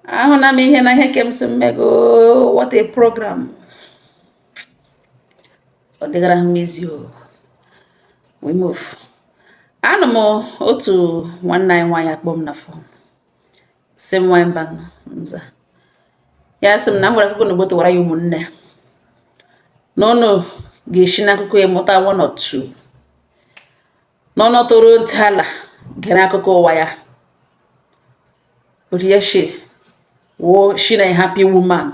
ahụna m ihe na ihe kem si mmego what a program ọ dịgara m ezi we move anụ m otu nwanne anyị nwaanyị akpọọ m na fon sị m nwaanyị mba nza ya sị m na m nwere akụkọ na ogbo tụwara ya ụmụnne na ụnụ ga-esi n'akụkọ ya mụta one or two na ụnụ tọrọ ntị ala gere akụkọ ụwa ya Oryeshe wo she na happy woman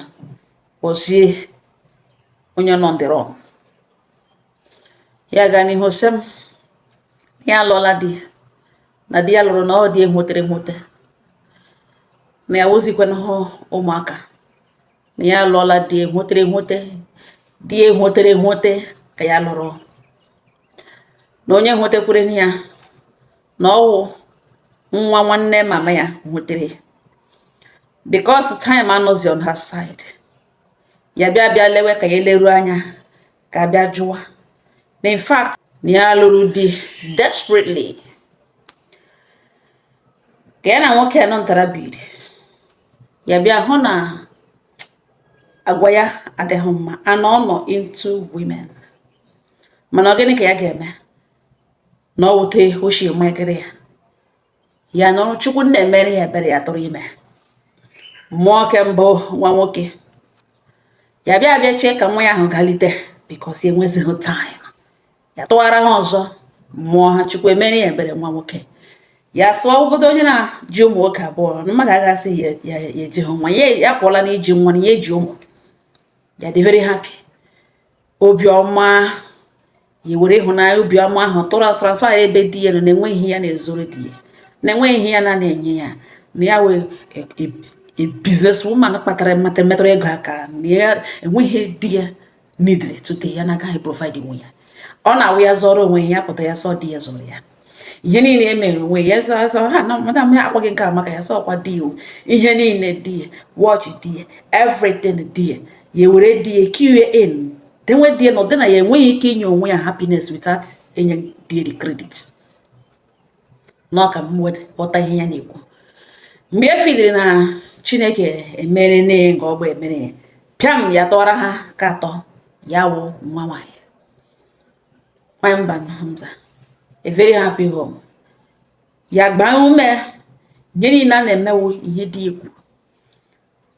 ozie onye nọ ndịrọ ya gaa n'ihu sị m ya alụọla di na di ya lụrụ na ọ di enwetara enweta na ya wozikwana hụ ụmụaka na ya alụọla di enwetara enweta di enwetara enweta ka ya lụrụ na onye nwetakwere ya na ọ wụ nwa nwanne mama ya nwetara because time anọzi on her side ya bịa bịa lewe ka ya eleru anya ka bịa jụwa na in fact na ya lụrụ di desperately ka ya na nwoke a nọtara biri ya bịa hụ na agwa ya adịghị mma and ọ nọ into women mana ọ gịnị ka ya ga-eme na ọ wute ochie mmekịrị ya ya nọrọ chukwu nna emere ya ebere ya tụrụ ime mụọ ke mbụ nwa nwoke ya bịa bịa chee ka nwa ya ahụ galite because enwezighị time ya tụwara ha ọzọ mụọ ha chukwu emere ya ebere nwa nwoke ya sụọ obodo onye na-ji ụmụ nwoke abụọ mmadụ agasị ya eji ha nwa ya pụọla na iji nwa na ya eji ụmụ ya dị very happy obi ọma ya were ịhụnanya obi ọma ahụ transfer ya ebe di ya nọ na enweghị ihe ya na-ezoro di ya na enweghị ihe ya na na-enye ya na ya wụ e, e, e, business woman kpatara mata metụrụ ego aka na ya enweghị di ya needịrị tụte ya na agaghị provide nye ya ọ na-awụ ya zụrụ onwe ya pụta ya sị ọ di ya zụrụ ya ihe niile e mere onwe ya zọ azọ ha na madam ya akpọghị nke a maka ya sị ọkwa di ya ihe niile di ya watch di ya everything di ya ya were di ya kiwe in denwe di ya na ọ dị na ya enweghị ike inye onwe ya happiness without inye di ya the credit na ọ ka m were ghọta ihe ya na-ekwu mgbe e fidere na chineke emere nne ya nke ọgba emere ya pịam ya tụwara ha ke atọ ya wụ nwa nwaanyị Nwamban Hamza a very happy home ya gwa m ihe niile a na-eme wọ ihe di ekwu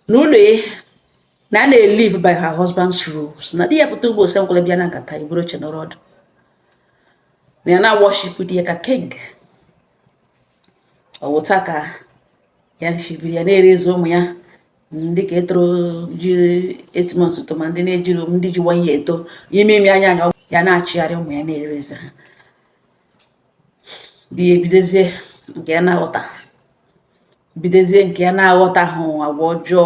n'ụlọ ya na a na-elive by her husband's rules na di ya pụta ugbu a sị m kulie bịa na nkata iburu oche nọrọ ọdụ na ya na-aworship di ya ka king ọ wụ otu a ka ya shi biri ya na-erezi ụmụ ya ndị ka etoro ji 8 months to ma ndị na-ejiri ndị ji 1 year eto ime ime anya anya ya na-achịgharị ụmụ ya na-erezi ha di ya ebidozie nke ya na-aghọta bidozie nke ya na-aghọtahụ agwa ọjọọ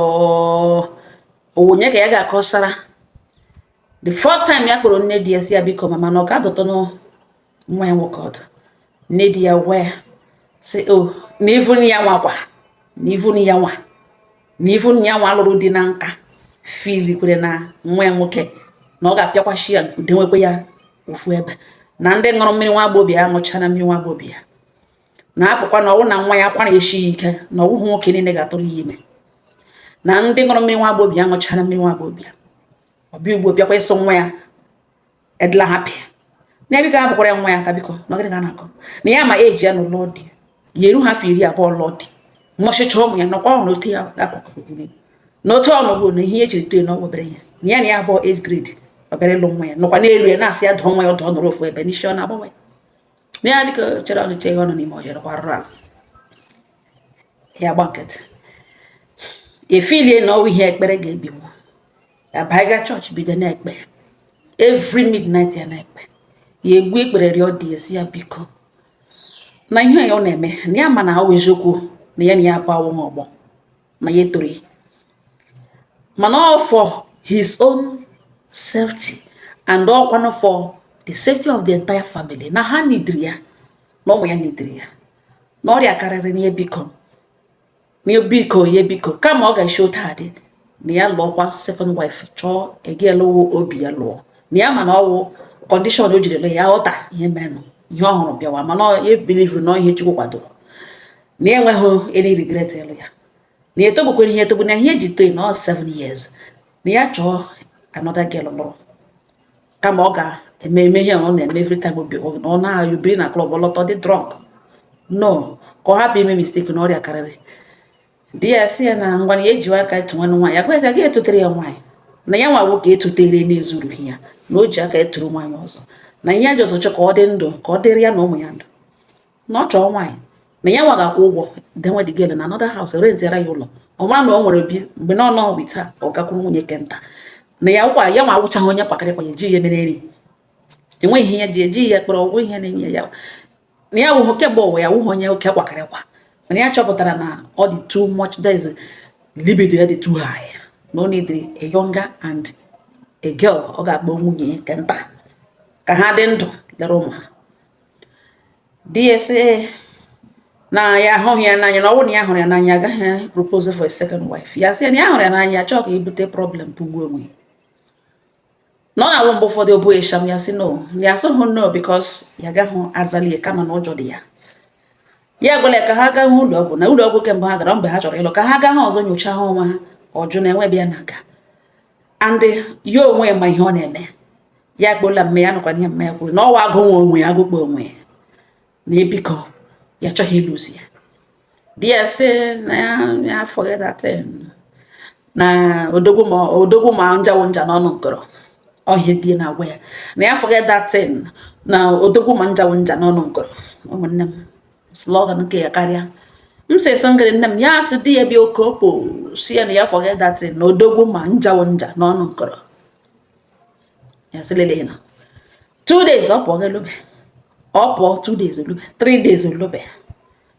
onye ka ya ga-akọsara the first time ya kpọrọ nne di ya sị ya biko mama na ọ ga-adụtụ nwa ya nwoke ọdụ nne di ya wee sị o oh, na even ya nwa kwa na even ya nwa na even ya nwa lụrụ di na nka fili kwere na nwa ya nwoke na ọ ga-apịakwachi ya denwekwe ya ofu ebe na ndị ṅụrụ mmiri nwa agbọghọbịa ya ṅụcha na mmiri nwa agbọghọbịa ya na apụkwa na ọ wụ na nwa ya akwara eshi ya ike na ọ wụhụ nwoke niile ga-atụrụ ya ime na ndị ṅụrụ mmiri nwa agbọghọbịa ya ṅụcha na mmiri nwa agbọghọbịa ọ bịa ugbo bịakwa ịsị nwa ya adịla happy na ebe ka hapụkwara ya nwa ya aka biko na gịnị ka ọ na-akọ na ya ma eji ya n'ụlọ di ya eruha afọ iri abụọ lụọ di mụchịcha ụmụ ya nọkwa ọhụrụ otu ya akụkụ na otu ọnụ bụ na ihe e jiri tue na ọ obere ya na ya na ya abụọ age grade obere lụ nwa ya nọkwa n'elu ya na-asị ya dụọ nwa ya ọdụ ọ nọrọ ofu ebe n'isi ọ na-agbanwe na ya dịka chere ọnụ che ọnụ n'ime ọhịa rụkwa arụrụ ala ya gba nkịtị efilie na ọ wụ ihe ekpere ga-ebinwu ya ba ịga church bido na-ekpe every midnight ya na-ekpe ya egbu ikpere rịọ di ya sị ya biko na ihe ya ọ na-eme na ya ma na ọ wụ eziokwu na ya na ya abụọ awụ ọgbọ na ya etoro mana ọ for his own safety and ọkwanụ for the safety of the entire family na ha nidiri ya na ụmụ ya nidiri ya na ọrịa karịrị na ya biko nye biko ya biko kama ọ ga-eshi otu a dị na ya lụọkwa second wife chọọ a girl wụ obi ya lụọ na ya mana ọ wụ condition o jirila ya ghọta ihe merenụ ihe ọ hụrụ bịawa mana ya ebilivuru na ihe Chukwu kwadoro na ya enweghị any regret ịlụ ya na ya etogbukwere ya etogbu na ihe e ji to ya na ọ 7 years na ya chọọ another girl lụrụ kama ọ ga-eme eme ihe ọ na-eme every time ọ na-ayụ biri na club ọ lọta ọ dị drunk no ka ọ hapụ ime mistake na ọrịa karịrị di ya sị ya na ngwa na ya ejiwa aka etu nwanne nwaanyị ya jiwazi aka etutere ya nwaanyị na ya nwa nwoke etutere na-ezurughị ya na o ji aka eturu nwaanyị ọzọ na ihe a ji ọzọ chọ ka ọ dị ndụ ka ọ dịrị ya na ụmụ ya ndụ na ọ chọọ nwaanyị na ya nwa ga-akwụ ụgwọ denwe the girl na another house rentịara ya ụlọ ọ mara na ọ nwere bi mgbe na ọ nọ bi taa ọ gakwuru nwunye ke nta na ọ wụkwa ya nwa awụchaghị onye kpakarị kwa ya eji ya mere nri enweghị ihe ya ji eji ya kpọrọ ọgwụ ihe na-enye ya na ya wụhụ kemgbe ụwa ya wụhụ onye oke kwakarị kwa mana ya chọpụtara na ọ dị too much that is libido ya dị too high na ọ need a younger and a girl ọ ga-akpọ nwunye ke nta ka ha dị ndụ lere ụmụ ha di ya sị ya na ya ahụghị ya n'anya na ọ bụrụ na ya hụrụ ya n'anya agaghị propose for a second wife ya sị na ya hụrụ ya n'anya chọọ ka i bute problem pụgbuo onwe ya na ọ na-awụ mgbe ụfọdụ obu esham ya sị no ya asịghị no because ya gaghị azalie kama na ụjọ dị ya ya gwara ka ha gaa ụlọ ọgwụ na ụlọ ọgwụ kemgbe ha gara mgbe ha chọrọ ịlụ ka ha gaa ha ọzọ nyochaa ha onwe ha ọ jụ na enwe bịa na aga and ya onwe ya ma ihe ọ na-eme ya kpọla mma ya nụkwa ihe mma ya kwuru na ọwa agụ nwe onwe ya agụkpọ onwe ya na biko ya achọghị ịlụzi ya di ya sị na ya forget that thing na odogwu ma njawo nja n'ọnụ nkọrọ ọ ihe di ya na-agwa ya na ya forget that thing na odogwu ma njawo nja n'ọnụ nkọrọ ụmụnne m slogan nke ya karịa m sị so ngịrị nne m ya sị di ya bịa oke opo sị ya na ya forget that thing na odogwu ma njawo nja n'ọnụ nkọrọ ya sị lele na two days ọ pụọ gelube ọ pụọ two days olube three days olube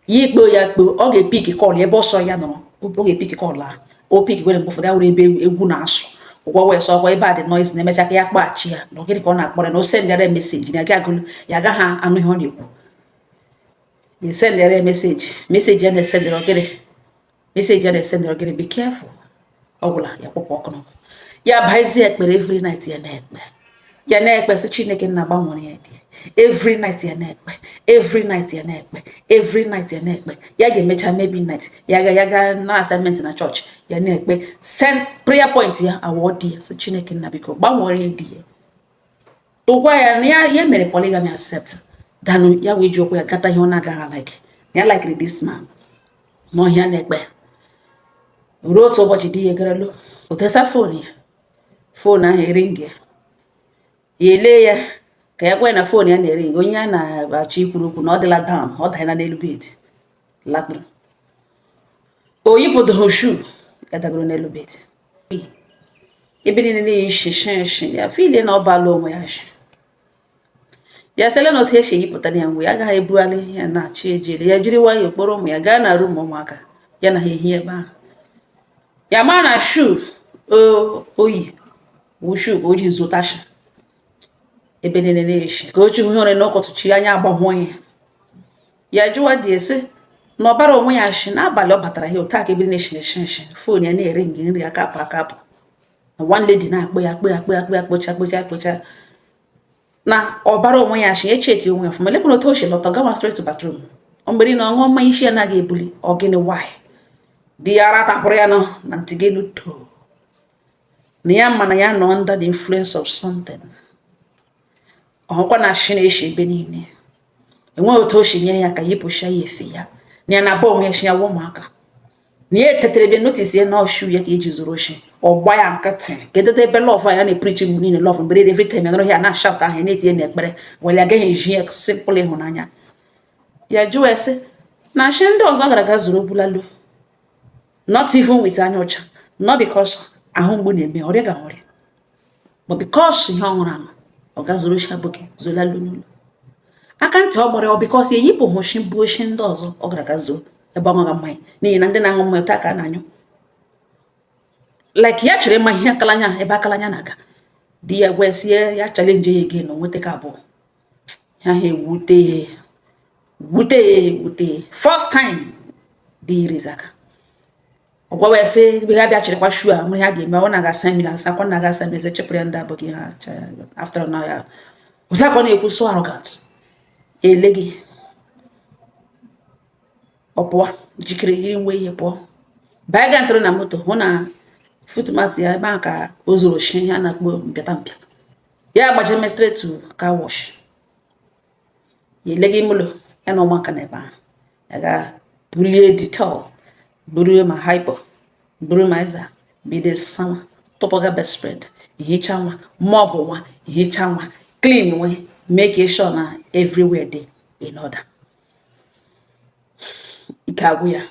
ya kpọ ya kpọ ọ ga-epick call ebe ọ sọ ya nọrọ ọ ga-epick call ahụ o pick gwere mgbe ụfọdụ ya were ebe egwu na-asụ ọ gwa ya sị ọkwa ebe a dị noise na emecha ka ya kpọghachi ya na ọ gịnị ka ọ na-akpọrọ na o sendịara message na gị agụlụ ya agaghị anụ ihe ọ na-ekwu ya sendịara message message ya na-esendi ọ gịnị message ya na-esendi ọ gịnị be careful ọ gwụla ya kpọpụ ọkụ n'ọkụ ya bazie ekpere every night ya na-ekpe ya na-ekpe sị chineke nna gbanwere ya di ya every night ya na-ekpe every night ya na-ekpe every night ya na-ekpe ya ga-emecha maybe night ya ga ya ga na assignment na church ya na-ekpe send prayer point ya awụ di ya sị chineke nna biko gbanwere ya di ya tụkwa ya na ya ya mere polygamy accept danụ ya wee ji ụkwụ ya gata ihe ọ na-agaghị like ya likiri this man ma ọ ihe ya na-ekpe ruo otu ụbọchị di ya agara lọ ọ tọsa phone ya phone ahụ eringi ya ya elee ya ka ya gwa ya na phone ya na-ering onye ya na-achọ ikwuru okwu na ọ dịla down ọ danyela n'elu bed lakpuru o yipụdụghị shoe ya dagoro n'elu bed ebe niile na-eshi nshi nshi ya feel na ọ bala onwe ya shi ya sịla na otu esi eyipụta ya mgbe ya agaghị ebugharị ihe ya na-achị ejiri ya jiri nwayọọ kpọrọ ụmụ ya gaa na room ụmụaka ya na ha ehie ebe ahụ ya ma na shoe o yi wụ shoe ka o ji zọta shi ebe niile na-eshi ka o chi hụ ụra n'ụtụtụ echi anya agbahụ ya ya jụwa di ya sị ya na ọ bara onwe ya shi n'abalị ọ batara ya hụta ka ebe niile na-eshi eshi eshi phone ya na-ering ering aka apụ aka apụ na one lady na-akpọ ya akpọ ya akpọ ya akpọ ya kpọcha kpọcha kpọcha na ọ bara onwe ya shi ya checkie onwe ya ọfụma lekwana otu o shi lọta gawa straight to bathroom ọ mgbere na ọ ṅụọ mmanya isi ya naghị ebuli ọ gịnị while di ya ara tapụrụ ya nọ na ntị gị luto na ya mana ya nọ under the influence of something ọkwa na nshị na-eshi ebe niile enweghị otu o si nyere ya aka yipụcha ya efe ya na ya na abụọ onwe ya sị ya wa ụmụaka na ya etetere ebe notice ya na ọ shoe ya ka e ji zọrọ nshị ọ gba ya nkịtị kedụ ebe love ya na-epreach mgbe niile love mgbe niile every time ya nọrọ ya na-ashout ahụ na-etinye n'ekpere were agaghị eji ya simple ịhụnanya ya jụọ ese na nshị ndị ọzọ gara aga zọrọ bulalu not even with anya ọcha not because ahụ mgbu na-eme ọrịa ga-arịa but because ihe ọ ṅụrụ aṅụ ọ ga zọrọ nshị aboki zọlalu n'ụlọ aka ntị ọ gbara ọ because eyipụ nshị bụ nshị ndị ọzọ ọ gara ga zọọ ebe ọ ṅụga mmanya n'ihi na ndị na-aṅụ mmanya taa ka a na-anyụ like ya chọrọ ịma ihe akalanya ebe akalanya na-aga di ya gwa sị ya challenge ya again na nweta aka abụọ ha ha ewute wute wute first time di irizi aka ọ gwawa ya sị ebe ha bịa chịrịkwa shoe a mụrụ ha ga-eme ọ na-aga seminars a kwa na-aga seminars echepụrụ ya ndị abụghị ha after na ya ụta ka ọ na-ekwu so arrogant ele gị ọ pụọ jikere yiri nwe ihe pụọ baa ga ntụrụ na moto hụ na footmat ya ebe ahụ ka ọ zọrọ nshị ihe a na-akpọ mpịata mpịa ya gbaje straight to car wash ya ele gị mụlọ ya na ụmụaka na ebe ahụ ya ga bulie Dettol buru ma hypo buru ma Izal bido sanwa tụpụga bedspread ihicha nwa mop nwa ihicha nwa clean nwe make sure na everywhere dey in order ike agwụ ya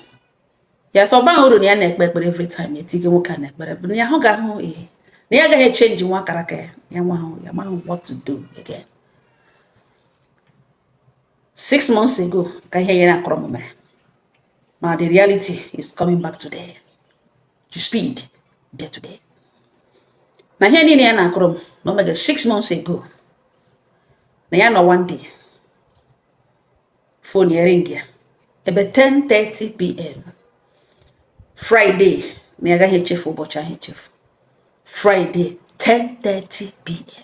ya sọ ọba uru na ya na-ekpe ekpere every time etinye nwoke a n'ekpere bụ na ya hụ ga-ahụ ihe na ya agaghị echange nwa character ya ya nwa ahụ ya amahụ what to do again six months ago ka ihe ya na-akọrọ m mere ma the reality is coming back today the speed bịa today na ihe niile ya na-akọrọ m na o mega six months ago na ya nọ one day phone ya ring ya ebe 10:30 pm Friday na ya agaghị echefu ụbọchị ahụ echefu Friday 10:30 pm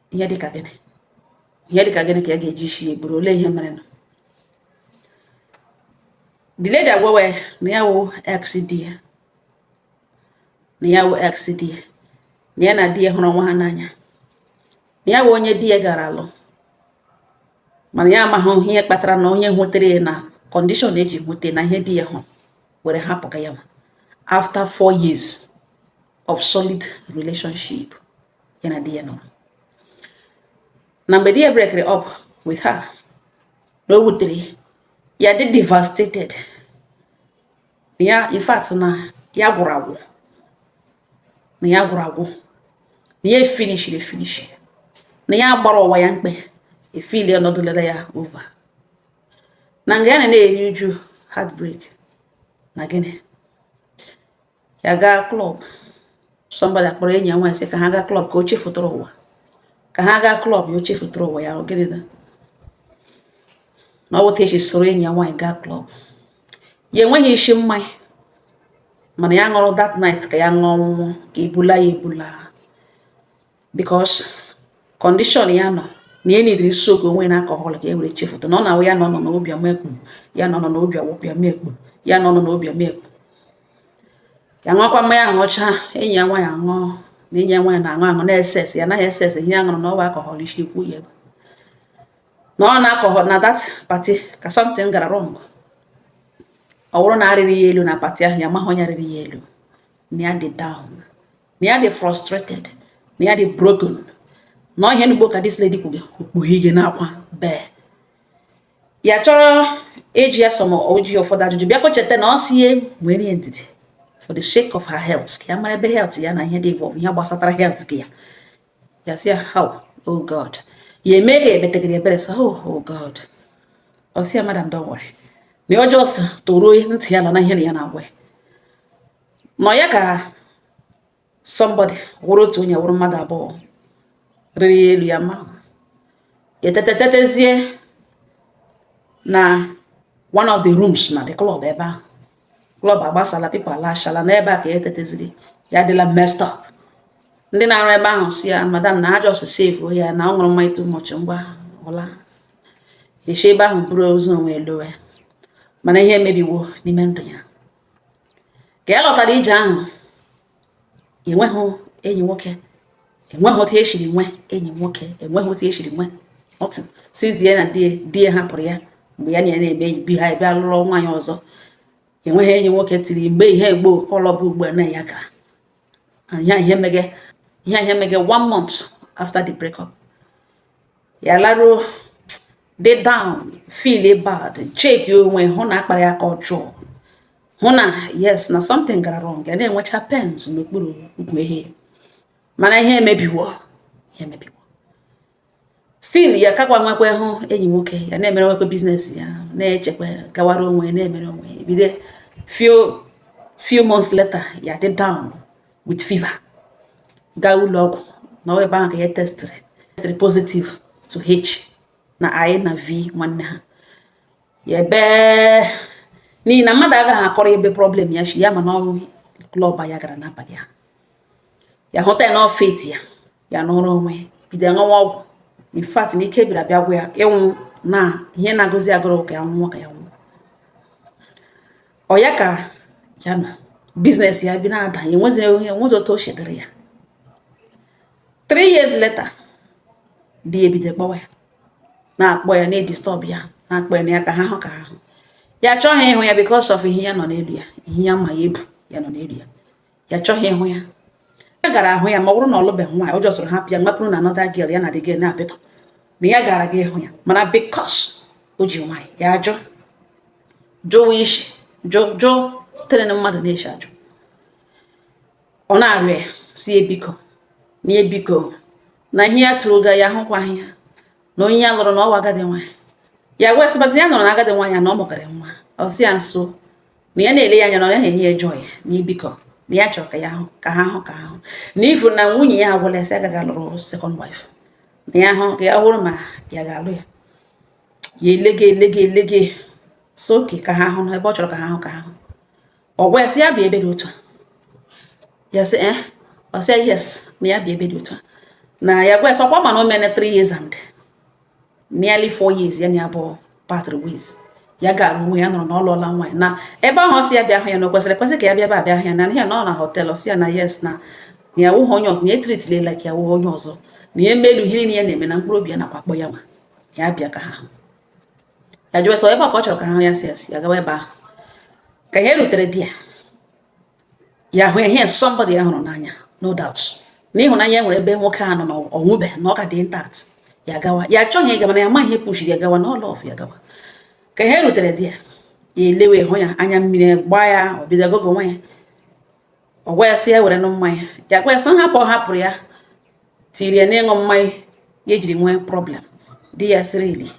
ihe dịka gịnị ihe dịka gịnị ka a ga-eji isi ya eburu olee ihe mere nụ the lady agwawa ya na ya wụ ex di ya na ya wụ ex di ya na ya na di ya hụrụ nwa ha n'anya na ya wụ onye di ya gara alụ mana ya amaghị ihe kpatara na onye hụtara ya na condition eji hụta na ihe di ya hụrụ were hapụga ya nwa after four years of solid relationship ya na di ya nọ na mgbe di ya brekere up with her na o wutere ya dị devastated ya in fact na ya gwụrụ agwụ na ya gwụrụ agwụ na ya finishiri efinishi na ya gbara ụwa ya mkpe efili ọnọdụ lere ya over na nga ya na na-eri uju heartbreak na gịnị ya gaa club somebody akpọrọ enyi ya nwaanyị sị ka ha gaa club ka o chefutụrụ ụwa ka ha gaa club ya o chefutụrụ ụwa ya gịnị na ọ wụta echi soro enyi ya nwaanyị gaa club ya enweghị isi mmanya mana ya ṅụrụ that night ka ya ṅụọ ọṅụṅụ ka e bula ya ebula because condition ya nọ na ya needịrị soak onwe na alcohol ka e were chefuta na ọ na-awụ ya nọ nọ n'obi ọma ekpu ya nọ nọ n'obi ọwụpụ ya mekpu ya nọ nọ n'obi ọma ekpu ya ṅụọkwa mmanya ṅụcha enyi ya nwaanyị aṅụọ na enyi ya nwaanyị na-aṅụ aṅụ na-ese ese ya anaghị ese ese ihe ya ṅụrụ na ọ wụ alcohol isi okwu ya ebe na ọ na alcohol na that party ka something gara wrong ọ bụrụ na a rịrị ya elu na party ahụ ya amahụ onye rịrị ya elu na ya dị down na ya dị frustrated na ya dị broken na ihe n'ugbo ka this lady kwuge okpughe ihe n'akwa bee ya chọrọ ịjụ ya some ịjụ ya ụfọdụ ajụjụ bịakwa cheta na ọ sị ya nwere ya ndidi for the sake of her health ka ya mara ebe health ya na ihe dị involve ihe gbasatara health gị ya ya sị ya how oh god ya eme ga emetegịrị ebere sa oh, oh god ọ sị ya madam don't worry na ọ just tọrọ ntị ya n'ala na ihe ya na-agwa ya nọ ya ka somebody wụrụ otu onye wụrụ mmadụ abụọ rịrị ya elu ya amahụ ya etetazie na one of the rooms na the club ebe ahụ club agbasala people alashala n'ebe a ka ya tetaziri ya adịla messed up ndị na-arụ ebe ahụ sị ya madam na ha just save ya na ọ ṅụrụ mmanya too much ngwa ọ laa esi ebe ahụ buru ozu onwe elowe mana ihe emebiwo n'ime ndụ ya ka ya lọtara ije ahụ enweghị enyi nwoke enweghị otu esiri nwe enyi nwoke enweghị otu esiri nwe otu since na di di ya hapụrụ ya mgbe ya na ya na-eme enyi bi ha ebe alụrụ nwaanyị ọzọ enweghị enyi nwoke tiri mgbe ihe egbo ọlọbụ ugbu a na ya gara ihe ihe mege ihe ihe mege one month after the breakup ya laruo dị down feel bad check onwe hụ na a kpara ya aka ọjọọ hụ na yes na something gara wrong ya na-enwecha pains n'okpuru ukwu ehe mana ihe emebiwo ihe emebiwo still ya akakwa enwekwahụ enyi nwoke ya na-emere onwe kwa business ya na-echekwa gawara onwe na-emere onwe bido few few months later ya dị down with fever gaa ụlọ ọgwụ na ọ ebe ahụ ka ya testịrị testịrị positive to H na I na V nwanne ha ya ebe n'ihi na mmadụ agaghị akọrọ ya ebe problem ya shi ya mana ọ wụ klọb ya gara n'abalị ahụ ya hụta ya n'ọfet ya ya nọrọ onwe bido ṅụwa ọgwụ in fact na ike bịara bịa gwụ ya ịnwụ na ihe na-agụzi agụụ ka ya nwụọ ka ya nwụọ ọ ya ka ya na business ya bịa na-ada enwezi onye enwezi otu o shi dịrị ya three years later di ya ebido kpọwa ya na-akpọ ya na-edistọb ya na-akpọ ya na ya ka ha hụ ka ha hụ ya achọghị ịhụ ya because of ihe ya nọ n'elu ya ihe ya ma ya ebu ya nọ n'elu ya ya achọghị ịhụ ya ya gara ahụ ya ma ọ bụrụ na ọ lụbeghị nwaanyị o ji ọsọ hapụ ya mapụrụ na another girl ya na the girl na-apịtọ na ya gara ga ịhụ ya mana because o ji nwaanyị ya ajụ jụwa isi jụ jụ tere na mmadụ na-esi ajụ ọ na-arịọ ya sị ya biko na biko na ihe ya tụrụ ga ya ahụkwaghị ya na onye ya lụrụ na ọ wụ agadi nwaanyị ya wee sịbazi ya nọrọ na agadi nwaanyị na ọ mụgara nwa ọ sị ya nso na ya na-ele ya anya na ọ naghị enye ya joy na biko na ya chọrọ ka ya ahụ ka ha hụ ka ahụ na even nwunye ya agwala ya sị agaghị alụrụ second wife na ya ahụ ka ya wụrụ ma ya ga-alụ ya ya elege elege elege sị okay ka ha hụ na ebe ọ chọrọ ka ha hụ ka ha hụ ọ gwa ya sị ya bịa ebe dị otu a ya sị eh ọ sị yes na ya bịa ebe dị otu a na ya gwa ya sị ọ kwa ị ma na o meene 3 years and nearly four years ya na abụọ parted ways ya gara onwe ya nọrọ na ọ lụọla nwaanyị na ebe ahụ ọ sị ya bịa hụ ya na o kwesịrị ekwesị ka ya bịa ebe a bịa hụ ya na ya nọ na hotel sị ya na yes na na ya wụghị onye ọzọ na etritile like ya wụghị onye ọzọ na ya emelu ihe niile ya na-eme na mkpụrụ obi ya nakwa akpọ ya nwa ya bịa ka ha hụ ya jụọ ya sị ọ ebe a ka ọ chọrọ ka ha hụ ya sị ya sị ya gawa ebe ahụ ka ya rutere di ya ya hụ ya somebody ya hụrụ n'anya no doubt na ịhụnanya nwere ebe nwoke a nọ na ọ nwụbe na ọ ka dị intact ya gawa ya achọghị ịgaba na ya amaghị ihe pushiri ya gawa na ọ love ya gawa ka ya rutere di ya ya elewe hụ ya anya mmiri gbaa ya ọ bido gụgụwa ya ọ gwa ya sị ya were ṅụọ mmanya ya gwa ya sị hapụ ọ hapụrụ ya tiri ya n'ịṅụ mmanya ya ejiri nwee problem di ya sị really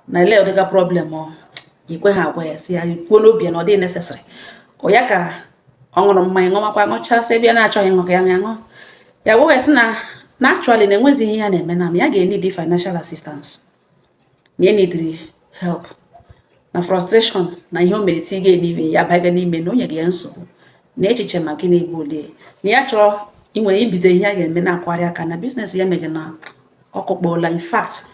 na olee ụdịga problem o kweghị agwa ya sị ya kwuo n'obi ya na ọ dịghị necessary ọ ya ka ọ ṅụrụ mmanya ṅụmakwa ṅụchasị ebe ya na-achọghị ịṅụ ka ya ṅụọ ya gwa ya sị na na actually na enwezighị ihe ya na-eme na ya ga-enidi financial assistance na ya nidiri help na frustration na ihe o mere tiga n'ime ya baga n'ime na o nyega ya nsogbu na echiche ma gị na-egbu ole na ya chọrọ inwere ibido ihe a ga-eme na-akwagharị aka na biznes ya mega na ọkụkpọla in fact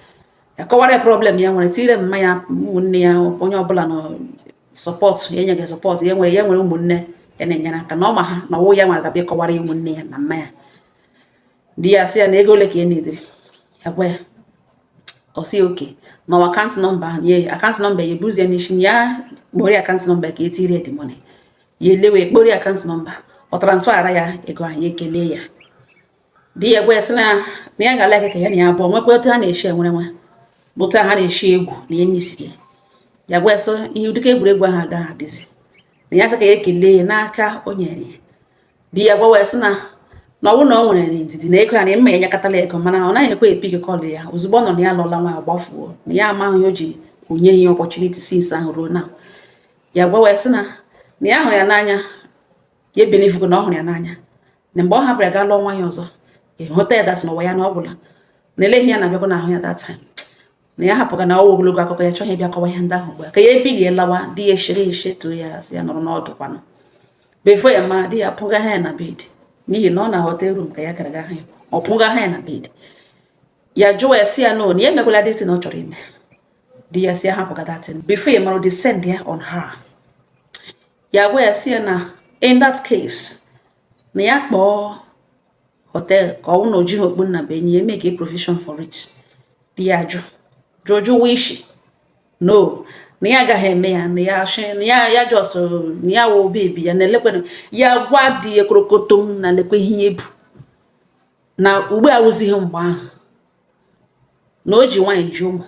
ya akọwara ya problem ya nwere tinyere mma ya ụmụnne ya onye ọbụla na-asọpọtụ ya enweghị sọpọtụ ya nwere ya nwere ụmụnne ya na-enyere aka na ọ ma ha na ọwụ ya nwere gabịa kọwara ya ụmụnne ya na mma ya di ya sị ya na ego ole ka ị nidiri ya gwa ya ọ sị okay na ọ akaụntụ nọmba ahụ nye ya akaụntụ nọmba ya eburuzie n'isi ya kpọrọ ya akaụntụ nọmba ka etiri ya the money ya elewe kpọrọ ya akaụntụ nọmba ọ transfara ya ego ahụ ya ekele ya di ya gwa ya sị na ya ga-ala ka ya na ya abụọ nwekwa otu ha na-eshi enwere nwa bụ otu ha na-eshi egwu na ya misiri ya gwa ya sị ihe ụdịka egwuregwu ahụ agaghị adịzi na ya sị ka ya ekele ya n'aka o nyere ya di ya gwawa ya sị na na ọ bụrụ na ọ nwere ndidi na ego ya na mma ya nyekọtala ego mana ọ naghị ekwe epick call ya ozugbo ọ nụ na ya lụọla nwa agbafuo na ya amaghị o ji enyeghị ya opportunity since ahụ ruo now ya gwawa ya sị na na ya hụrụ ya n'anya ya ebelivugo na ọ hụrụ ya n'anya na mgbe ọ hapụrụ ya gaa lụọ nwaanyị ọzọ ịhụta ya that ụwa ya na ọ gwụla na eleghị ya na-abịakwa n'ahụ ya that time na ya hapụga na ọwụ ogologo akụkọ ya chọghị ịbịa kọwa ihe ndị ahụ ugbu a ka ya ebilie lawa di ya echere eche too ya asị ya nọrọ ọdụ kwanụ before ya mara di ya pụga ha ya na bed n'ihi na ọ na hotel room ka ya gara gahụ ya ọ pụga ha ya na bed ya jụwa ya si ya na ya emekwala this thing ọ chọrọ ime di ya si ya hapụga that thing before ya mara descendia on her ya gwa ya si ya na in that case na ya kpọọ hotel ka ọwụ na o jighị okpu nnabuenyi ya emeke provision for it di ya jụ jụ jụwa isi no na ya agaghị eme ya na ya shi na ya ya just na ya wụ baby ya na elekwe ya gwa di ya korokotom na lekwe ihe ya bu na ugbu a awụzighị mgbe ahụ na o ji nwaanyị ji ụmụ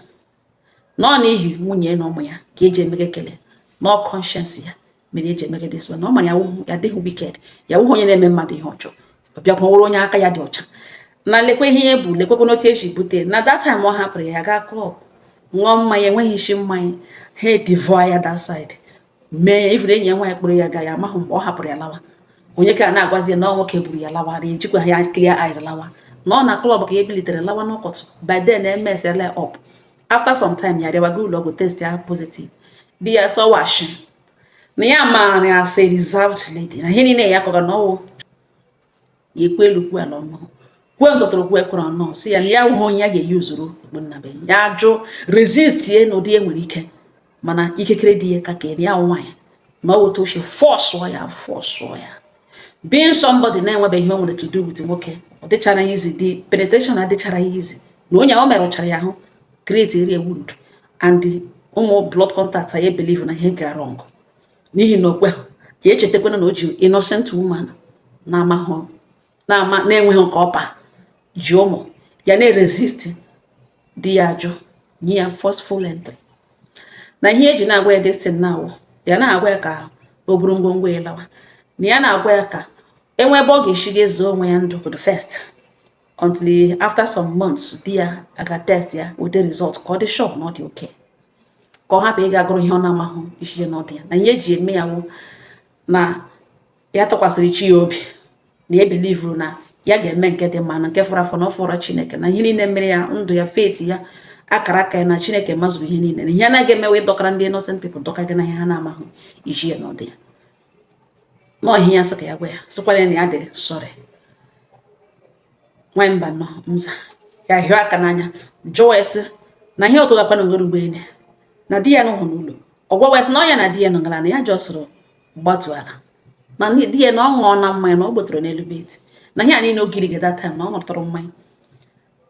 na ọ n'ihi nwunye na ụmụ ya ka ya ji emega ekele na ọ conscience ya mere ya ji emega this one na ọ mara ya dịghị wicked ya wụhụ onye na-eme mmadụ ihe ọjọọ ọ bịakwa wụrụ onye aka ya dị ọcha na lekwa ihe ya bu lekwekwanụ otu ya shi bute na that time ọ hapụrụ ya gaa klọb ṅụọ mmanya enweghị isi mmanya ha edivọ ya that side mee even enyi ya nwaanyị kpụrụ ya ga ya amahụ mgbe ọ hapụrụ ya lawa onye ka na-agwazi ya na ọ nwoke buru ya lawa na ejikwa ya clear eyes lawa na ọ na klọb ka ya bilitere lawa n'ụtụtụ by then emessiala up after some time ya arịawa gaa ụlọ ọgwụ test ya positive di ya sọwa shi na ya maara ya as a reserved lady na ihe niile ya kọga na ọwụ ya ekwe elu kwu ala ọnụ kwe ntụtụrụ kwe kwere ọnụ si ya na ya hụ onye ya ga-eyi ozuru ogbunnabe ya ajụ resist ye na ụdị e nwere ike mana ike kere di ya ka kere ya nwaanyị na ọ wụta ochie fọsụọ ya fọsụọ ya being somebody na-enwebeghị ihe o nwere to do with nwoke ọ dịchara ya easy the penetration adịchara ya easy na onye ahụ merụchara ya ahụ create area wound and ụmụ blood contact ya believe na ihe gara wrong n'ihi na okwe ya echetakwana na o ji innocent woman na-enweghị nke ọpa ji ụmụ ya na-eresist di ya ajụ nye ya forceful entry na ihe eji na-agwa ya this thing na ọ wụ ya na-agwa ya ka o buru ngwongwo ya lawa na ya na-agwa ya ka e nwee ebe ọ ga-esi ga ezo onwe ya ndụ the first until after some months di ya aga test ya weta result ka ọ dị sure na ọ dị okay ka ọ hapụ ịga gụrụ ihe ọ na-amahụ isi ya na ọdụ ya na ihe eji eme ya wụ na ya tụkwasịrị chi ya obi na ya believuru na ya ga-eme nke dị mma na nke fọrọ afọ na ọ fọrọ chineke na ihe niile mere ya ndụ ya fate ya akara aka ya na chineke mazụrụ ihe niile na ihe anaghị emewe dọkara ndị innocent people dịka gị na ihe ha na-amahụ isi ya na ọdụ ya n'ọhịa ya sị ka ya gwa ya sịkwara ya na ya dị sorry nwanyị mba nọ mza ya hịọ aka n'anya jụọ sị na ihe ọkụ gakwana ngoro mgbe na di ya anọhụ n'ụlọ ọgwụ wee sị na ọ ya na di ya nọ ngala na ya jọsụrụ gbatu ala na di ya na ọ ṅụọna mmanya na ọ gbotoro n'elu bed na ihe a niile ogiri gị that time na ọ ṅụtụrụ mmanya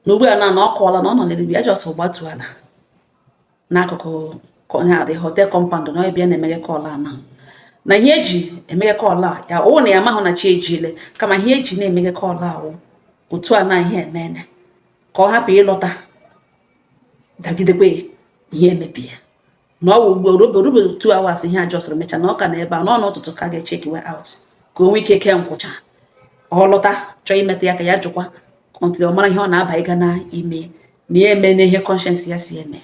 na ugbu a na na ọ kọwala na ọ nọ n'elu ya jọsụrụ gbatu ala n'akụkụ the hotel compound na ebe a na-emeghe call a na na ihe eji emeghe call a ya ọ wụ na ya mahụ na chi ejiele kama ihe eji na-emeghe call a wụ otu a na ihe emene ka ọ hapụ ịlọta dagidekwe ihe emebie na ọ wụ ugboro oberube two hours ihe a jọsụrụ mecha na ọ ka na ebe a n'ọnụ ụtụtụ ka ga-echeckiwe out ka o nwee ike kee nkwụcha ọ lọta chọọ imetụ ya ka ya jụkwa until ọ mara ihe ọ na-aba ịga na-eme na ya eme na ihe conscience ya si eme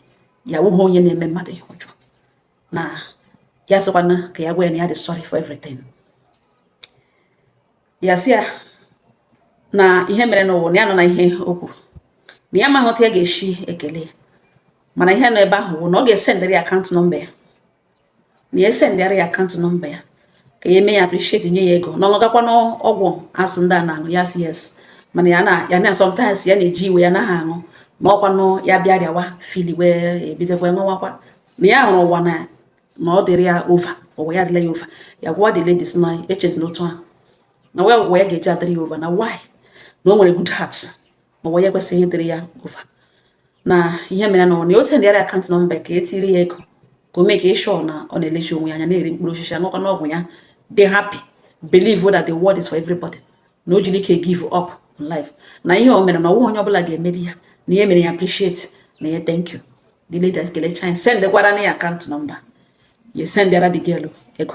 ya awụghị onye na-eme mmadụ ihe ọjọọ na ya sịkwana ka ya gwa ya na ya dị sorry for everything ya sị ya na ihe mere n'ụwa na ya anụna ihe o kwuru na ya amaghị otu ya ga-esi ekele mana ihe nọ ebe ahụ bụ na ọ ga-esendịrị ya account number ya na ya esendịara ya account number ya ka ya eme ya appreciate nye ya ego na ọ gakwa n'ọgwụ a sị ndị a na-aṅụ ya sị yes mana ya na ya na sometimes ya na-eji iwe ya naghị aṅụ ma ọkwanụ ya bịa rịawa fever wee ebidokwa ṅụwakwa na ya hụrụ ụwa na na ọ dịrị ya over ụwa ya adịla ya over ya gwa the ladies na echezina otu ahụ na why ụwa ya ga-eji adịrị ya over na why na o nwere good heart ma ụwa ya ekwesịghị ịdịrị ya over na ihe mere na ọ na o sendịara account number ka e tiri ya ego ka o make sure na ọ na-elechi onwe ya anya na-eri mkpụrụ osisi aṅụkwanụ ọgwụ ya dị happy believe that the world is for everybody na o jiri ike give up in life na ihe o mere na ọnwa onye ọbụla ga-emeri ya na ihe mere ya appreciate na ya thank you the lady ekelechaa sendịkwaranụ ya account number ya sendịara the girl ego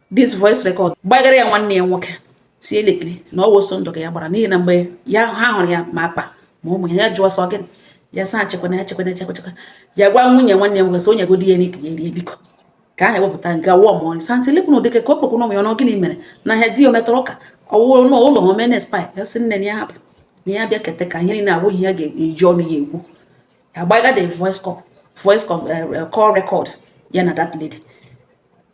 this voice record gbagara ya nwanne ya nwoke sị lekiri na ọ wụ ọsọ ndụ ka ya gbara n'ihi na mgbe ya ha hụrụ ya ma akpa ma ụmụ ya jụọ sị ọ gịnị ya saa chekwana ya chekwana chekwa chekwa ya gwa nwunye nwanne ya nwoke sị o nyegodi ya nri ka ya rie biko ka aha ewepụta nke wụọ ma ọrị santi lepụ na ụdịke ka ọ kpọkwụ n'ụmụ ya ọnụ gịnị mere na ha di ya metọrọ ụka ọ wụrụ n'ụlọ ha omene spa ya sị nne ya hapụ na ya bịa keta ka ihe niile abụghị ya ga-eji ọnụ ya ekwu agbaga the voice call voice call eh, eh, record ya na that lady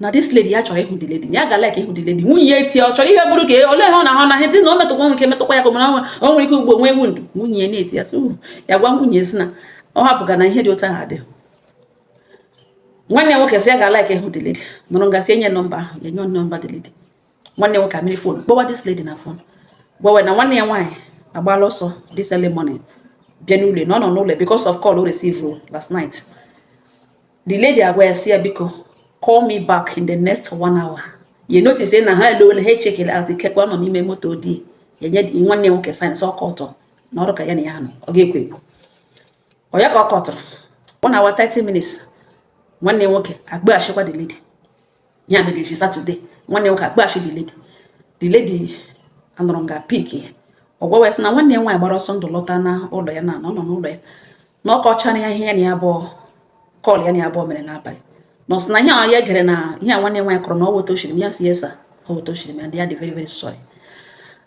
na this lady ya chọrọ ịhụ the lady ya ga like ịhụ the lady nwunye ya etie ọ chọrọ ihe bụrụ ka ole ha ọ na-ahụ na ihe na o metụkwa nwoke metụkwa ya ka o mere o nwere ike ugbo nwee wound nwunye ya na-eti ya so ya gwa nwunye sị na ọ hapụga na ihe dị otu ahụ adị nwanne nwoke sị ya ga like ịhụ the lady nọrọ nga sị e nye number ahụ ya nye number the lady nwanne nwoke amịrị phone kpọwa this lady na phone gwawe na nwanne ya nwaanyị agbala ọsọ this early morning bịa n'ụlọ na ọ nọ n'ụlọ because of call o receive last night the lady agwa ya sị ya biko call me back in the next one hour ya notice na ha elowele ha echeckele out ikekwe ọ nọ n'ime moto di ya nye nwanne nwoke sign sị ọka ọtọ na ọrụ ka ya na ya nọ ọ ga-ekwo ekwo oya ka ọ kọtụrụ one hour 30 minutes nwanne nwoke akpọghachikwa the lady ihe a megechi Saturday nwanne nwoke akpọghachi the lady the lady anọrọ nga pick ya ọ gwawa ya sị na nwanne ya nwaanyị gbara ọsọ ndụ lọta na ụlọ ya na ọ nọ n'ụlọ ya na ọ kọchara ya ihe ya na ya abụọ call ya na ya abụọ mere n'abalị na ọ sị na ihe a ya gere na ihe a nwanne nwaanyị kọrọ na ọ wụ otu o shiri mee ya sị yes ọ wụ otu o shiri mee ya dị ya dị very very sorry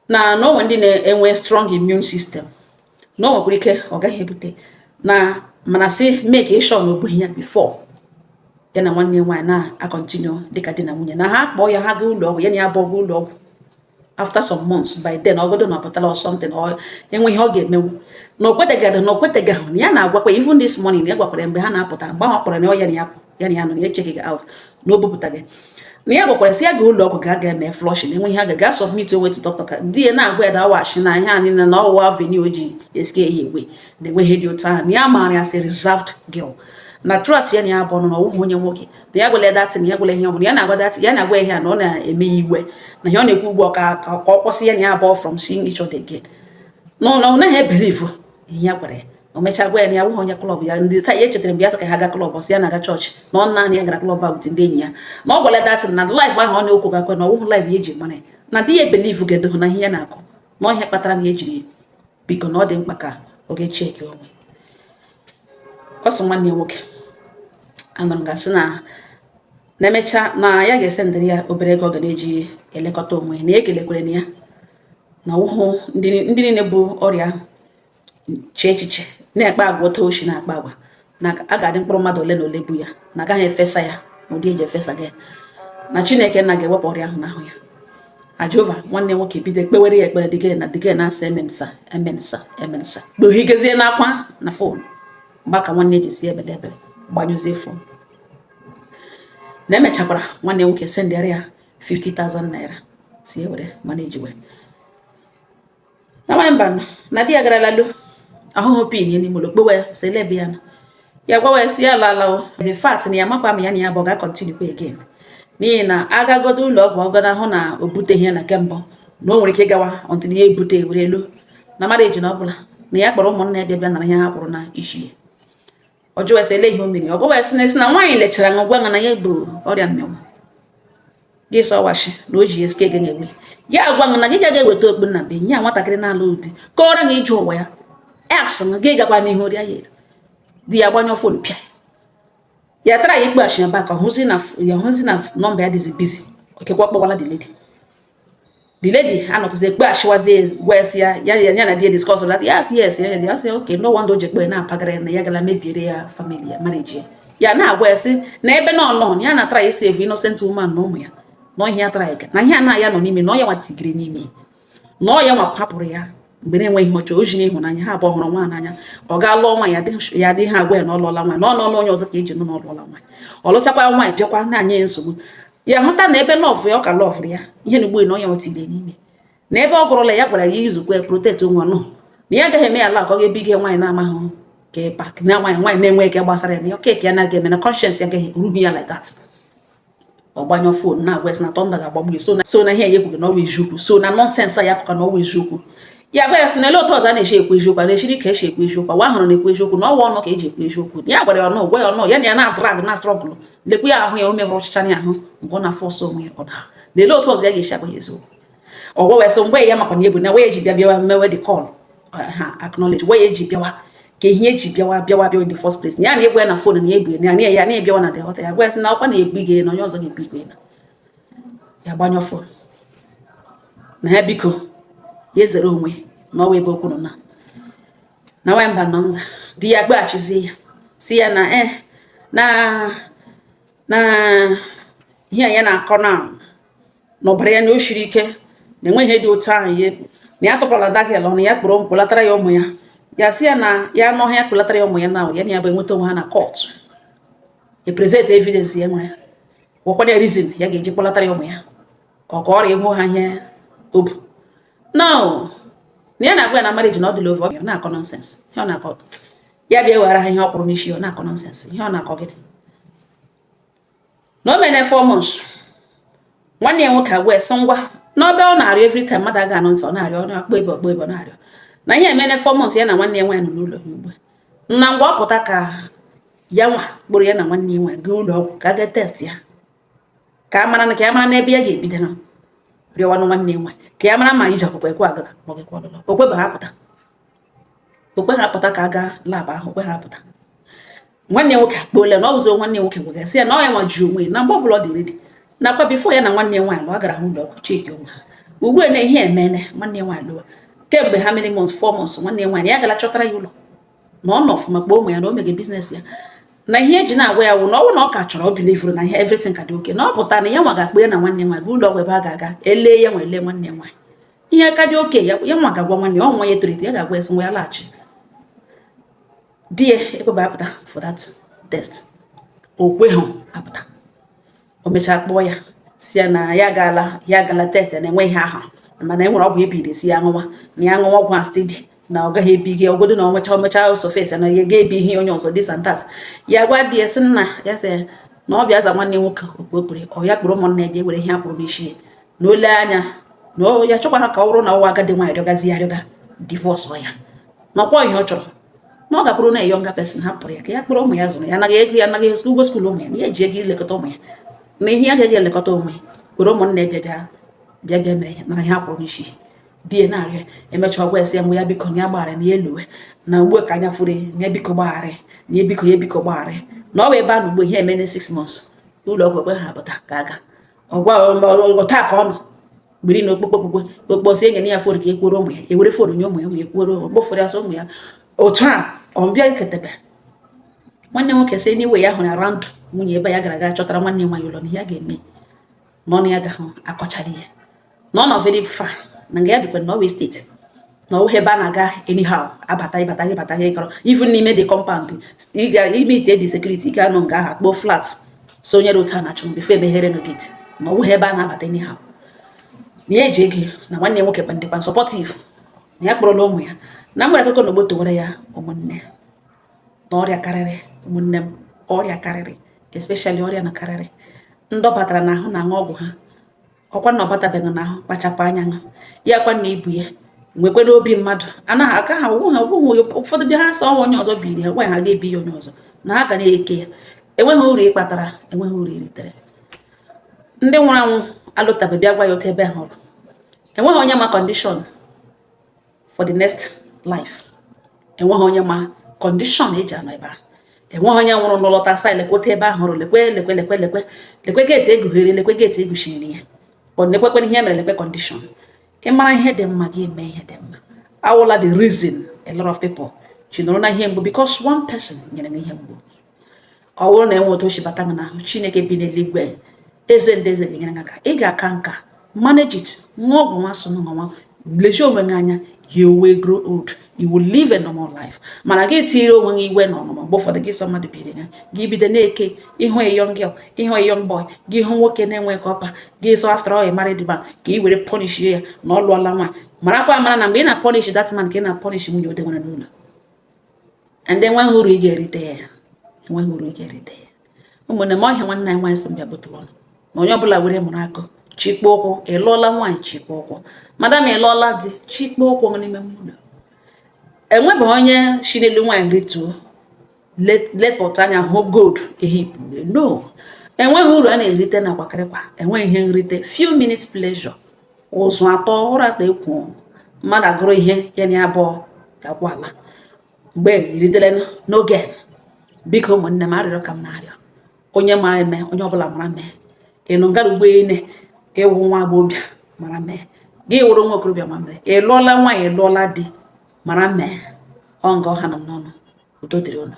na na o nwe ndị na-enwe strong immune system na o nwekwara ike ọ gaghị ebute na mana sị make sure na o bughị ya before ya na nwanne nwaanyị na-acontinue dịka di na nwunye na ha kpọọ ya ha gaa ụlọ ọgwụ ya na ya abụọ gaa ụlọ ọgwụ after some months by then ọgodo na ọ pụtala or something o nweghị ihe ọ ga-emenwu na okwetegadị na okwetegaghị na ya na-agwakwa even this morning ya gwakwara mgbe ha na-apụta mgbe ahụ kpọrọ na ọ ya na ya pụ ya na ya nọ na echeckighị out na o bupụtaghị na ya gwakwara sị ya ga ụlọ ọgwụ ga aga eme flush na enwe ihe aga gaa submit onwe to doctor ka di ya na-agwa ya dawashi na ihe anyị na ọ wụ avenue ji escare ya away na enweghị ihe dị otu ahụ na ya maara ya sị reserved girl na trat ya na ya bụ ọnụ na ọ wụghị onye nwoke na ya gwala that thing na ya gwala ihe ọbụla ya na-agwa that thing ya na-agwa ihe na ọ na-eme ya iwe na ihe ọ na-ekwu ugbu a ka ọ kwụsị ya na ya abụọ from seeing each other again na ọ naghị ebelieve ihe ya gwara ya o mechaa gwa ya na ya wụghị onye klọb ya ndị taa ya echetara mgbe ya sị ka ha ga klọb ọ sị ya na-aga chọọchị na ọ naanị ya gara klọb a wute ndị enyi ya na ọ gwara datị na laif ahụ ọ na-ekwu gakwe na ọ wụhụ laif ya eji mara ya na di ya ebelivu ga-edohụ na ihe ya na-akọ na ọ ihe kpatara na ya ejiri biko na ọ dị mkpa ka ọ gaa cheki onwe ọ sị nwanne ya nwoke anụrụ ya sị na na-emecha na ya ga-esendịrị ya obere ego ọ ga na-eji elekọta onwe na ya ekelekwere na ya na ọ wụhụ ndị niile bu ọrịa ahụ chee echiche na-akpa agwa otu o si na-akpa agwa na a ga-adị mkpụrụ mmadụ ole na ole bu ya na agaghị efesa ya na ụdị eji efesa gị na chineke na ga-ewepụ ọrịa ahụ n'ahụ ya na jehova nwanne nwoke bido kpewere ya ekpere dịgị na dịgị na-asa amen sir amen sir amen sir kpuhigezie n'akwa na fon mgbe aka nwanne ji si ebede ebere gbanyụzie fon na emechakwara nwanne nwoke sendịara ya 50,000 naira sị ya were manejiwe nwaanyị mba nọ na di ya gara lalo ahụhụ pin ya n'ime ụlọ kpọwa ya sị elee ebe ya nọ ya gwawa ya sị ya lalawo the fact na ya makwa ma ya na ya bụ ga-akọntinukwa again n'ihi na agagodo ụlọ ọgwụ ọgọ na ahụ na o buteghị ya na nke mbụ na o nwere ike ịgawa until ya ebute ewere elu na marriage na ọ bụla na ya kpọrọ ụmụnna ya bịa bịa nara ihe ha kwụrụ n'isi ya ọ jụwa sị ele ihe o mere ọ gwawa ya sị na a sị na nwaanyị lechara ṅụ gwa na ya bu ọrịa mmịnwụ gị sị ọ wụ asị na o ji ya sị ka ganye egbe ya gwa na gị gaghị eweta okpu nnabuenyi nwatakịrị na-alụhụ di kọọrọ gị ije ụwa ya aksị na gị gakwa n'ihu rịa ya di ya gbanyụọ fon pịa ya traya ịkpọghachi ya back hụzie na nọmba ya dịzi bizi okekwa kpọwala the lady the lady anọtụzie kpọghachiwazie gwa ya sị ya ya ya na di discuss that yes yes ya ya sị okay no wonder o ji ekpe na-apagara na ya gala mebiere ya family ya marriage ya ya na-agwa ya sị na ebe na ọ nọ ya na try save innocent woman na ụmụ ya na ihe ya try na ihe a na ya nọ n'ime na ọ ya nwa tigiri n'ime na ọ ya nwa hapụrụ ya mgbe na-enweghị ihe ọchọ o ji n'ịhụnanya ha abụọ hụrụ onwe n'anya ọ gaa lụọ nwaanyị dị ha agwa ya na ọ lụọla nwaanyị na ọ n'ọnụ onye ọzọ ka e ji nụ na ọ lụọla nwaanyị ọ lụchakwa nwaanyị bịakwa na-enye ya nsogbu ya hụta na ebe lọvụ ya ọ ka lọvụrụ ya ihe na-egbu ya na ọ ya nwa tigiri n'ime na ebe ọ gụrụla ya gwara ya yuzukwa protection na ya agaghị eme ya ala ka ọ gaa bunye nwaanyị na-amaghị ka ịpa na nwaanyị nwaanyị na-enweghị ihe gbasara ya na okeke ya na-aga eme na kọnshens ya agaghị erughị ya like that ọ gbanyụọ fon na-agwa ya sị na tọnda ga-agbagbu so na so na ihe ya ekwughị na ọ wa eziokwu so na nọnsensị a ya pụka na ọ wa eziokwu ya gwa ya sị na ele otu ọzọ a na-eche ekwu eziokwu a na-echiri ka e si ekwu eziokwu wa ahụrụ na-ekwu eziokwu na ọ wa ọnụ ka e ji ekwu eziokwu ya gwara ya ọnụ gwa ya ọnụ ya na ya na-adrag na-astrọgụlụ lekwu ya ahụ ya o mebụrụ ọchịcha ya ahụ mgbe ọ na-afọsụ onwe ya ọ daa na ele otu ọzọ ya ga-esi agwa ya eziokwu ọ gwa wee sị mgbe ya makwa na ebu na wee ji bịa bịawa mewe the call ha acknowledge wee ji bịawa ka ihe eji bịawa bịawa bịawa in the first place na ya na-ebu ya na fon na ebu ya na ya na-ebịawa na the hotel ya gwa ya sị na ọkwa na-ebu gị na onye ọzọ ga-ebu igwe na ya gbanyụọ fon na ya biko ya ezere onwe na ọwa ebe okwu nọ na na nwanyị mba nọ nza di ya kpọghachizie ya sị ya na e na na ihe a ya na-akọ na na ọbara ya na o shiri ike na enweghị ihe dị otu ahụ ya ekpu na ya tọkwala dagel ọnụ ya kpọrọ kpọlatara ya ụmụ ya ya sị ya na ya anaghị akpọlatara ya ụmụ ya na ya na ya bụ enweta onwe ha na kọtụ e present evidence ya nwere gwakwana ya reason ya ga-eji kpọlatara ya ụmụ ya ka ọ ka ọrịa enwe ha ihe ọ bụ na na ya na-agwa ya na marriage na ọ dịla over ọ na-akọ nonsense ihe ọ na-akọ ya bịa were ha ihe ọ kwụrụ n'isi ọ na-akọ nonsense ihe ọ na-akọ gịnị na o meene four months nwanne ya nwoke agwa ya sị ngwa n'ọ bịa ọ na-arịọ every time mmadụ aga anụ ntị ọ na-arịọ ọ na-akpọ ebe ọkpọ ebe ọ na-arịọ na ihe emeene four months ya na nwanne ya nwaanyị nọ n'ụlọ ya ugbu a na ngwa ọ pụta ka ya nwa kpọrọ ya na nwanne ya nwaanyị gaa ụlọ ọgwụ ka a gaa test ya ka a mara na ka ya mara n'ebe ya ga-ebido arịọwanụ nwanne ya nwaanyị ka ya mara ma iji ọkpụkpa ekwe agara ma ọ ga-ekwe ọlụlọ o kweba apụta o kweghị apụta ka a gaa lab ahụ o kweghị apụta nwanne nwoke akpọole na ọ bụzi nwanne nwoke gwara sị ya na ọ ya nwa ji onwe na mgbe ọbụla ọ dị ready nakwa before ya na nwanne nwaanyị lụọ gara ụlọ ọgwụ check onwe ha ugbu a na ihe emeene nwanne nwaanyị lọwa kemgbe how many months four months nwanne nwaanyị ya gara chọtara ya ụlọ na ọ nọ ọfụma kpọọ ụmụ ya na o mege business ya na ihe eji na-agwa ya wụ na ọ wụ na ọ ka chọrọ ọ bilivuru na ihe everything ka dị okay na ọ pụta na ya nwa ga-akpọ ya na nwanne nwaanyị bụ ụlọ ọgwụ ebe a ga-aga elee ya nwa elee nwanne nwaanyị ihe ka dị okay ya nwa ga-agwa nwanne ya ọ nwa ya etolite ya ga-agwa ya sị nwa ya laghachi di ya ekweba apụta for that test o kweghị apụta o mechaa kpọọ ya sị ya na ya gaala ya gala test ya na enwe ihe a hụrụ mana e nwere ọgwụ e biri sị ya ṅụwa na ya ṅụwa ọgwụ a steady na ọ gaghị ebi gị ọgodo na ọ mechaa ọ mechaa surface na ya ga-ebi ihe onye ọzọ this and that ya gwa di ya sị nna ya sị na ọ bịa za nwanne nwoke okpokpere ọ ya kpọrọ ụmụnna ya bịa were ihe a kwụrụ n'isi ya na o lee anya na ọ ya chọkwara ka ọ bụrụ na ọ wụ agadi nwaanyị rịọgazi ya rịọga divorce ọ ya na ọkwa ihe ọ chọrọ na ọ gakwuru na a younger person hapụrụ ya ka ya kpọrọ ụmụ ya zụrụ ya anaghị ego ya anaghị ego ụgwọ school ụmụ ya na ya ji ego ilekọta ụmụ ya na ihe ya gaghị elekọta ụmụ ya were ụmụnne bịa bịa bịa bịa mere ya nara ihe a kwụrụ n'isi di ya na-arịọ e mechaa ọ gwa ya sị ya nwa ya biko na ya gbaghara na ya eluwe na ugbu a ka anya furu ya biko gbaghara na ya biko ya biko gbaghara na ọ bụ ebe a na ugbu a ihe emeene six months ụlọ ọgwụ o kweghị apụta ka a gaa ọgwa ngọ taa ka ọ nọ gbiri na ọkpụkpọ ọkpụkpọ ọ kpọọ sị e nye na ya fon ka ekwuoro ụmụ ya ewere fon nye ụmụ ya ma ekwuoro mgbofere asọ ụmụ ya otu a ọ bịa iketebe nwanne nwoke si n'iwe ya hụrụ around nwunye ebe ya gara aga chọtara nwanne nwaanyị ụlọ na ihe a ga-eme n'ọnụ agaghị akọchali ya na ọ nọ very far na nga ya bikwa na ọ wụ estate na ọwụghị ebe a na-aga anyhow abata ịbata gị bata gị kọrọ even n'ime the compound ị ga-emeet ndị security ị ga-anọ nga ahụ kpọọ flat sonyere otu a na-achọ before e meghere unu gate na ọwụghị ebe a na-abata anyhow na ya eji ego na nwanne ya nwoke kwa dịkwa supportive na ya kpọrọla ụmụ ya na mgbere akụkọ na ogbo towere ya ụmụnne na ọrịa karịrị ụmụnne m ọrịa karịrị especially ọrịa na karịrị ndị ọ batara n'ahụ na-aṅụ ọgwụ ha ọkwa na ọ batabeghị n'ahụ kpachapụ anya ṅụ ya kwa na i bu ya nwekwanụ obi mmadụ anaghị aka ha ọgwụghị ọgwụghị ụfọdụ bịa ha sị ọnwa onye ọzọ biri ya nwaanyị ha ga-ebi ya onye ọzọ na ha ga na-eke ya enweghị uru ị kpatara enweghị uru i ritere ndị nwụrụ anwụ alọtabe bịa gwa ya otu ebe ha hụrụ enweghị onye ma condition for the next life enweghị onye ma condition e ji anọ ebe ahụ enweghị onye nwụrụnụ lọta sị lekwe otu ebe ahụ hụrụ lekwe lekwe lekwe lekwe lekwe gate e gughere lekwe gate e guchiri ya lekwekwe ihe mere lekwe condition ị mara ihe dị mma gị mee ihe dị mma awụla the reason a lot of people ji nọrọ na ihe mgbu because one person nyere gị ihe mgbu ọ bụrụ na e nwee otu o shi bata gị n'ahụ chineke bi n'eluigwe eze ndị eze ga-enyere gị aka ị ga-aka nka manage it ṅụwa ọgwụ nwa so nwa nwa lezie onwe gị anya you will grow old you will live a normal life mana gị tinyere onwe gị iwe na ọnụma mgbe ụfọdụ gị sị mmadụ biri ya gị bido na-eke ị hụ a young girl ị hụ a young boy gị hụ nwoke na-enwe ka ọpa gị sị after all married man ka ị were punish ya na ọ lụọla nwaanyị marakwa amara na mgbe ị na-punish that man ka ị na-punish nwunye o dewere n'ụlọ and enweghị uru ị ga-erite ya enweghị uru ị ga-erite ya ụmụnne m ọ ihe a nwanne anyị nwaanyị sị m bịa bụtụ ọnụ na onye ọbụla were mụrụ akọ chikpo ụkwụ ị lụọla nwaanyị chikpo ụkwụ madam ị lụọla di chikpo ụkwụ n'ime mmadụ enwebeghị onye si n'elu nwaanyị rituo lepụta anya hụ gold ehipụ no enweghị uru a na-erite n'akwakịrịkwa enweghị ihe nrite few minutes pleasure ụsọ atọ ụra atọ ekwo mmadụ agụrụ ihe ya na abụọ gakwa ala mgbe iritele n'oge biko ụmụnne m arịrịọ ka m na-arịọ onye mara mee onye ọbụla mara mee ịnụ ngara ugbo ine ị wụ nwa agbọghọbịa mara mee gị wụrụ nwa okorobịa mara mee ị lụọla nwaanyị lụọla di mara mee ọ nga ọ hanụ m n'ọnụ udo dịrị unu